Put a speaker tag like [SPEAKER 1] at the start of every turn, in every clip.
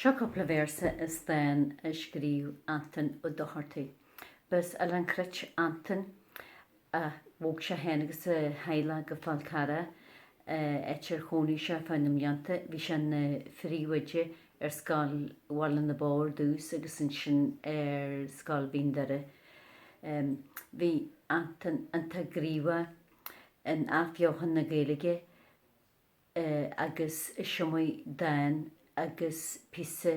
[SPEAKER 1] Seo cúpla véarsa as dán a scríobh Antoin Ó Dochartaigh. Ba as Oileán Cruit Antoin ach bhog sé féin agus a theaghlach go Fál Carrach áit ar chónaigh sé feadh na mblianta. Bhí sé ina phríomhoide ar Scoil Bhaile na Bó ar dtús agus ansin ar Scoil Mhín Doire. Bhí Antoin iontach gníomhach in athbheochan na Gaeilge agus is iomaí dán agus píosa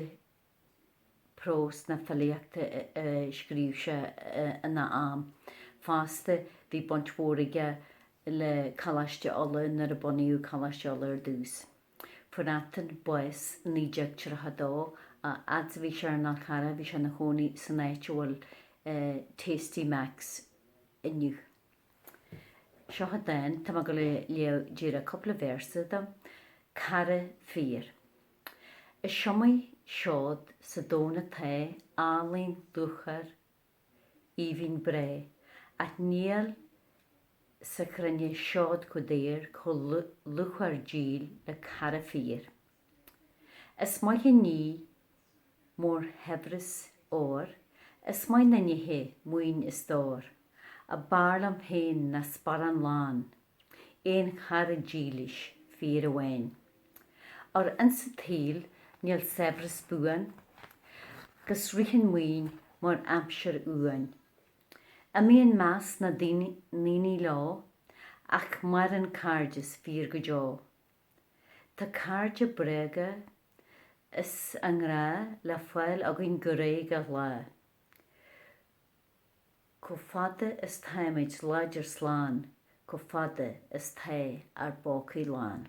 [SPEAKER 1] próis agus filíochta a scríobh sé ina am. Fosta, bhí baint mhór aige le Coláiste Uladh nuair a bunaíodh Coláiste Uladh ar dtús. Fuair Antoin bás i 1932. A fhad 's bhí sé ar an Fhál Charrach bhí sé ina chónaí san áit a bhfuil Tasty Macs inniu. Seo dán atá mé ag gabháil a léamh díreach cúpla véarsa de, 'Cara Fíor'. Is iomaí seod sa domhan atá álainn luachmhar aoibhinn breá ach níl sa chruinne seod chomh daor chomh luachmhar díl le cara fíor. Is maith an ní mór shaibhreas óir is maith na nithe maoin is stór ach b'fhearr liom féin ná sparán lán aon chara dílis fíor amháin. Ar an tsaol níl saibhreas buan, 'gus ritheann maoin mar aimsir uainn. Imíonn meas na ndaoine leo ach maireann cairdeas fíor go deo. Tá cairde bréige is a ngrá le fáil againn go réidh gach lá. Chomh fada is táimid láidir slán, chomh fada is tá ár bpócaí lán.